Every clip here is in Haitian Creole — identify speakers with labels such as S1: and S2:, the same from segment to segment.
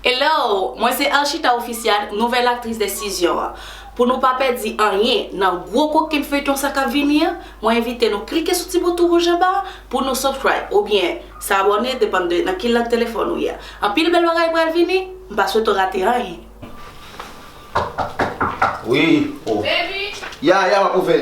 S1: Hello! Mwen se Arshita Official, nouvèl aktris Desizyon an. Pou nou pa pèdi anyen nan gwo kokenn feyton sa kap vini an, mwen envite nou klike sou ti bouton wouj anba a pou nou subcribe oubyen s'abonner depann de nan ki lang telefòn ou ye a. Anpil bèl bagay pral vini, m pa swete w rate anyen.
S2: Wi, oh. Baby! Ya,
S1: ya, map ouvè.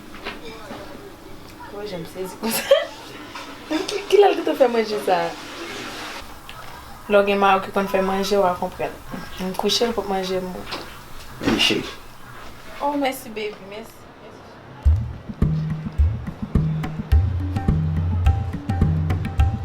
S1: Wè jan m sezi konsa. Kilè l gentan fè manje sa a? Lè w gen mari w ki konn fè manje w a konprann. M kouche l pou manje m riche.
S2: Oh
S1: mèsi baby mèsi.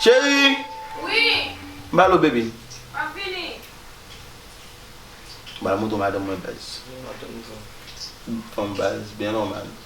S2: Cheri
S1: Ba lo bebe
S2: Ba mouton madanm mwen baz Mouton baz byen nòmal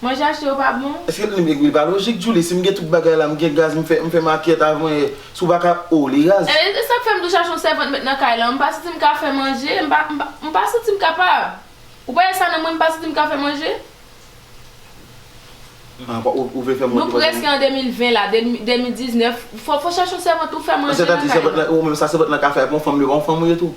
S1: Manje achte yo pa bon? Eske li megri li pa lojik
S2: Djoulie si m gen tout bagay la m gen gaz m fè m fè makyèt avm wè si w pa ka oh li raz. E sak fèm tou chache
S1: yon sèvant met nan kay lan m pa santim ka fè manje m pa m pa santim kapab ou pa wè sa nan mwen m pa santim ka fè manje nou
S2: preske an 2020
S1: la 2019 fò chache yon sèvant ou fè manje nan kay lan. Sètadi sèvant lan ou menm sa sèvant
S2: lan ka fè ak yon fanm li pa yon fanm ou ye tou.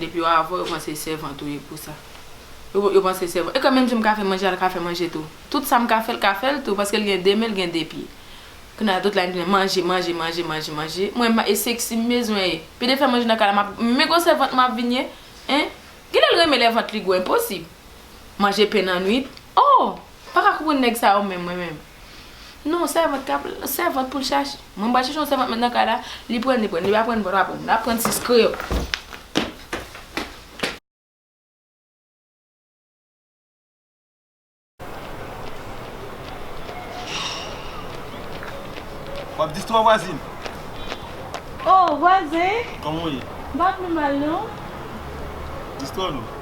S1: Depi yo avèw yo panse sèvant ou ye pou sa yo panse sèvant ekòm menm jan m ka fè manje al ka fè manje tou tout sa m ka fèl ka fèl tou paskel gen 2 men l gen 2 pye kounye a
S3: tout la gen manje manje manje manje manje mwen m e seksi m bezwen e pi de fè manje nan kay la map m men gwo sèvant map vin ye hein gen lèl renmen lè vant li gwo enposib. Manje pen nan nwit oh Paka konprann nèg sa yo menm mwen menm Non sèvant kap sèvant poul chache Mwen pral chache yon sèvant mèt nan kay la Li prann li prann li pa prann li pa prann Nap prann ti skre yo
S2: Wap distwa vwazin
S3: Oh vwazen Kòman ou ye Mpa
S2: pi mal non Distwa nou.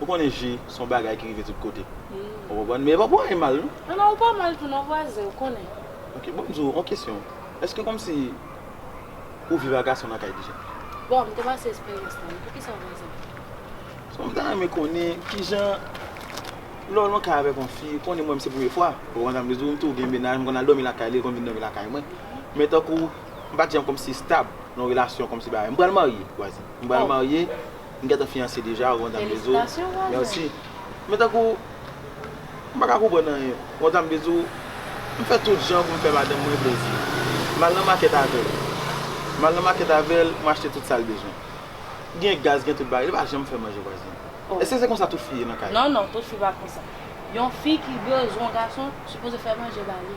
S3: Ou konnen
S2: ji son bagay ki rive tout kote. Ou konprann? Men e pa pou anyen mal non. Non non ou pa mal tou non
S3: vwazen ou konnen. Ok bon m di w on
S2: kesyon. Eske kòmsi ou viv a gason nan kay deja? Bon m te pase
S3: esperyans lan wi. Poukisa vwazen? Paske m ta renmen konnen
S2: kijan lè w lan kay avèk on fi, ou konnen mwen m se premye fwa. Ou konprann sa m vle di w? M tou gen mennaj, m konn al dòmi lakay li, li konn vin dòmi lakay mwen. Men tankou m pa t janm kòmsi stab nan relasyon kòmsi bagay. M pral marye vwazen. M pral marye. M gentan fiyanse deja ou kontan Bdou merci men tankou m paka konprann anyen ou kontan Bdou m fè tout jan pou m fè madanm mwen plezi m al nan makèt avèl m al nan makèt avèl m achte tout sal bezwen gen gaz gen tout bagay li pa janm fèm manje vwazin èske se konsa tout fi ye nan kay la non non tout fi pa konsa
S3: yon fi ki bezwen yon gason sipoze fè manje bali.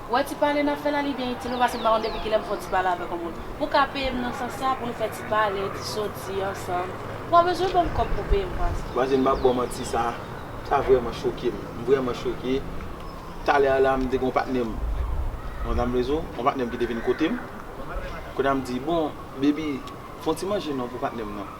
S2: Ou
S3: wè ti pale nap fè la li byen itil ou pase m pa konn depi kilè m fon ti pale avèk yon moun pou ka peye m nan sans sa pou nou fè ti pale ti soti ansanm ou pa bezwen banm kòb pou peye m pas. Vwazen m pap baw manti sa
S2: sa vrèman choke m m vrèman choke talè a la m te gen yon patnè m yon dam rezo yon patnè m ki te vin kote m kounye a m di bon baby fon ti manje non pou patnè m nan.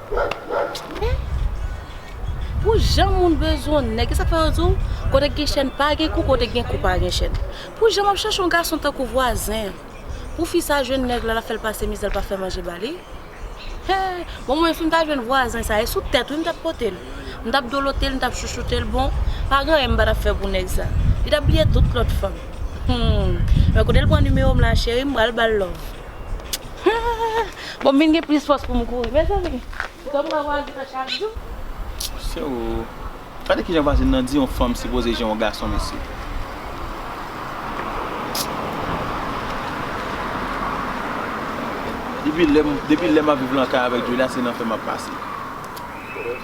S3: Men Pou jan moun bezwen nèg esak fè yo di w kote gen chèn pa gen kou kote gen kou pa gen chèn Pou jan map chache yon gason tankou vwazen Pou fi sa jwenn nèg la lap fèl pase mizè l pa fè manje ba li Hee bon mwen sim ta jwenn vwazen sa e sou tèt wi m tap pote l M tap dolote l m tap chouchoute l bon pa gen anyen m patap fè pou nèg sa Li tap bliye tout lòt fanm Humm men kote l pran nimewo m la cheri m pral bal love Humm. Bon m vin gen plis fòs pou m kouri mezanmi. Ou konn pran vwazin an chak jou. Mesye
S2: oo. Gade kijan vwazin nan di yon fanm sipoze jan yon gason mesye. Depi lè map viv lan kay avèk Julia se nan fè map pase.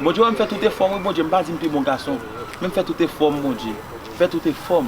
S2: Bondye wè m fè tout efòm wi bondye m pa di m pi bon gason men m fè tout efòm bondye fè tout efòm.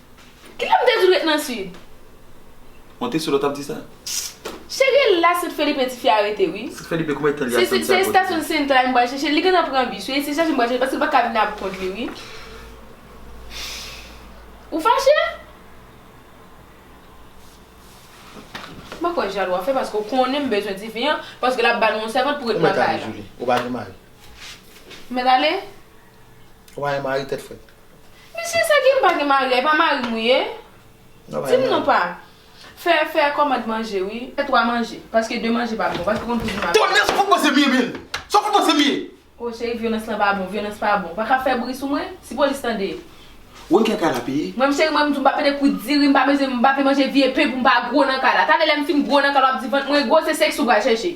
S1: Kilè m te di w ret nan Sid? Mwen
S2: te sou lè w t ap di sa. Cheri
S1: la Sid Felipe di fi a rete wi. Sid Felipe kouman etan li a Santiago?
S2: Se estasyon Central
S1: m pral chèche l. Li gentan pran bis wi. E se chèche m pral chèche l paske l pa ka vin ap kont li wi. Ou fache? M pa kwè jalou a fè paske w konnen m bezwen tifi an paske l ap ba nou yon sèvant pou ret nan kay la. Ou mèt ale Julie. Ou pa gen
S2: mari? M
S1: mèt ale? Ou
S2: pa gen mari tèt frèt. Misye sa ki
S1: m pa gen mari a e pa marim ou ye dim non pa fè fè kòmand manje wi fè 3 manje paske 2 manje pa bon paske ou konn kouzin maten. Tonnè sa fout pase m ye menn
S2: sa fout pase m ye. Oh cheri vyolans lan
S1: pa bon vyolans pa bon pa ka fè bri sou mwen si polis tande. Woy gen kay
S2: la peye. Mwen menm cheri mwen m di w m pa pete
S1: kout diri m pa peze m pa vle manje vye pen pou m pa gwo nan kay la talè lè m fin gwo nan kay la w ap di vant mwen gwo se sèks ou pral chèche.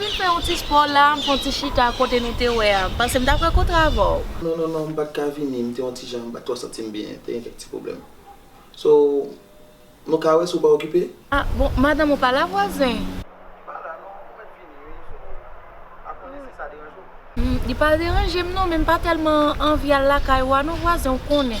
S3: Vin
S2: fè yon ti spò
S3: la, m fè yon ti chita kote nou te wè a, m panse m ta pral kontre avè w. Non, non, non, m pa t
S2: ka vini, m te yon ti jan, m pa t twò santi m byen, te gen kèk ti pwoblèm. So, nou ka wè si w pa okipe? A, bon, madanm
S3: ou pa la vwazen? Li pa la non,
S2: m mèt vini wi, so, m pa konnen si sa deranje w. Li pa
S3: deranje m non, men m pa tèlman anvi al lakay ou a non vwazen, ou konnen.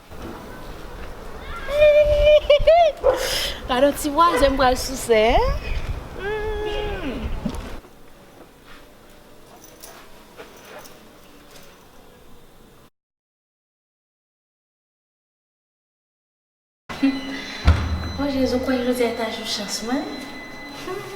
S3: Gadon ti vwazen m pral souse humm. O jezi ou kwè jodi a ta jou chans mwen humm.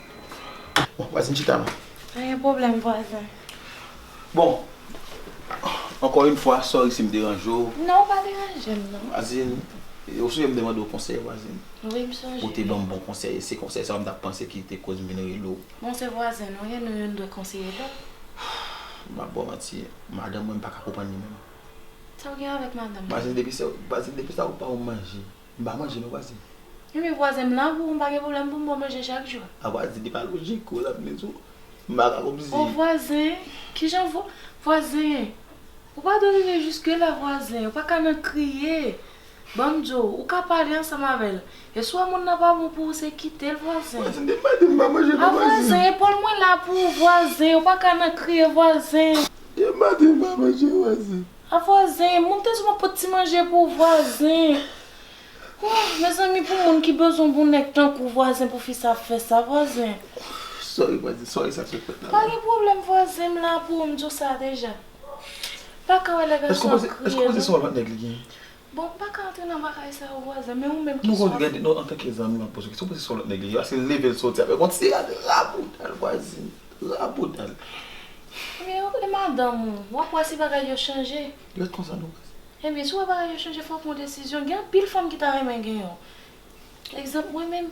S2: Bon, vwazin chita la. Pa gen pwoblèm
S3: vwazin. Bon,
S2: ankò yn fwa, sorry si m deranje w. Non, ou pa deranje
S3: m non.
S2: Vwazin, ou sonje m te mande w konsèy vwazin? Wi, m sonje. Ou te
S3: ban m bon konsèy
S2: e se konsèy sa a m ta panse ki te koz m vin rele w. Bon, se vwazin nou
S3: ye, nou youn dwe konseye lòt. M
S2: pa ba w manti, madanm mwen m pa ka konprann li menm. Sa w gen
S3: avèk madanm ou? Vwazin,
S2: depi sa ou pa wè m manje, M pa manje non vwazen. Ebyen vwazen m
S3: la pou m pa gen pwoblèm pou m bon manje chak jou. A vwazen li pa lojik
S2: ou rann men tou m pa ka konpzi. O vwazen
S3: kijan vwazen ou pa dwe rive jiske la vwazen ou pa ka nan kriye ban m di w ou ka pale ansanm avè l e si w wè moun nan pa bon pou ou se kite l vwazen. Vwazen de m pa de m pa
S2: manje non vwazen. A vwazen epòl
S3: mwen la pou ou vwazen ou pa ka nan kriye vwazen. De m pa de m
S2: pa manje vwazen. A vwazen,
S3: moun te souvan pot ti manje pou vwazen. Ohh mezanmi pou moun ki bezwen pou nèg tankou vwazen pou fi sa ap fè sa vwazen. Sorry
S2: vwazen, sorry sak sot fèt la. Pa gen pwoblèm vwazen
S3: m la pou ou m di w sa deja. Paka wè lè gason ap kriye non. Eske w panse se
S2: yon lòt nèg li genyen? Bon m paka
S3: antre nan bagay sa yo vwazen men ou menm keswa pou m. Non antanke zanmi
S2: map poze kesyon paske son lòt nèg li ye paske l leve l soti avèk yon ti rad rabouda l vwazin rabouda l. Ebyen
S3: ok e madanm ou wap wè si bagay yo chanje. Li ret konsa non
S2: vwazin. Ebyen si w wè bagay
S3: yo chanje fò w pran desizyon gen anpil fanm ki ta renmen gen yon egzanp mwen menm.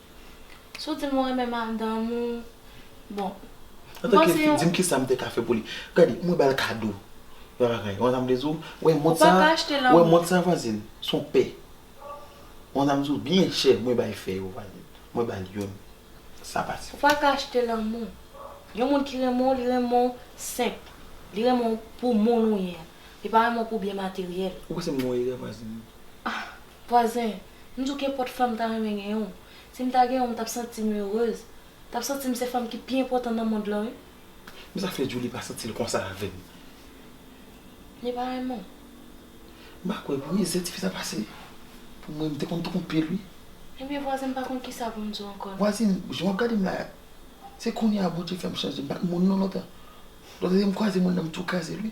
S3: Si w di m ou renmen madanm ou, bon. Antanke fi,
S2: di m kisa m te ka fè pou li. Gade, mwen ba l kado. Yon bagay. Ou konn sa m vle di w? Ou wè mont sa a? Ou wè mont sa a vwazin? S on pè. Ou konn sa m di w? Byen chè mwen bay fè yo vwazin. Mwen ba l youn. Sa pase. Ou pa ka achte lanmou.
S3: Yon moun ki renmen w, li renmen w senp. Li renmen w pou moun ou ye a. Li pa renmen w pou byen materyèl. Ou panse m gen yon erè
S2: vwazin?
S3: Vwazen, M di w kenpòt fanm m ta renmen gen yon. Si m ta gen yon m t ap santi m heureuse. M t ap santi m se fanm ki pi enpòtan nan mond lan wi. Men sa fè
S2: Djoulie pa santi l konsa avè m.
S3: Li pa renmen w? M
S2: pa kwè vre, zè tifi sa pase pou mwen, m te konn tou konn pye l wi. Ebyen vwazen
S3: m pa konn kisa pou m di w ankò. Vwazin, jan w ap gade m
S2: la a, se kounye a Bondye fè m chanje, m pa t moun non lontan. Lòt lè m kwaze moun nan m tou kraze l wi.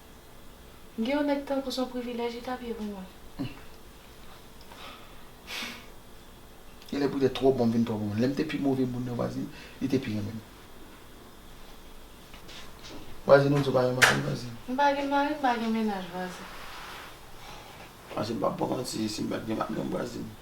S3: Gen yon nèg tankou son privilèj li tap ye pou mwen.
S2: Genlè pou lè twò bon m vin twò bon. Lèm te pi move moun nan vwazin li te pi renmen m. Vwazin ou di w pa gen mari vwazin. M pa gen mari m pa gen mennaj
S3: vwazin.
S2: Vwazin m pap baw manti si m pat gen madanm vwazin.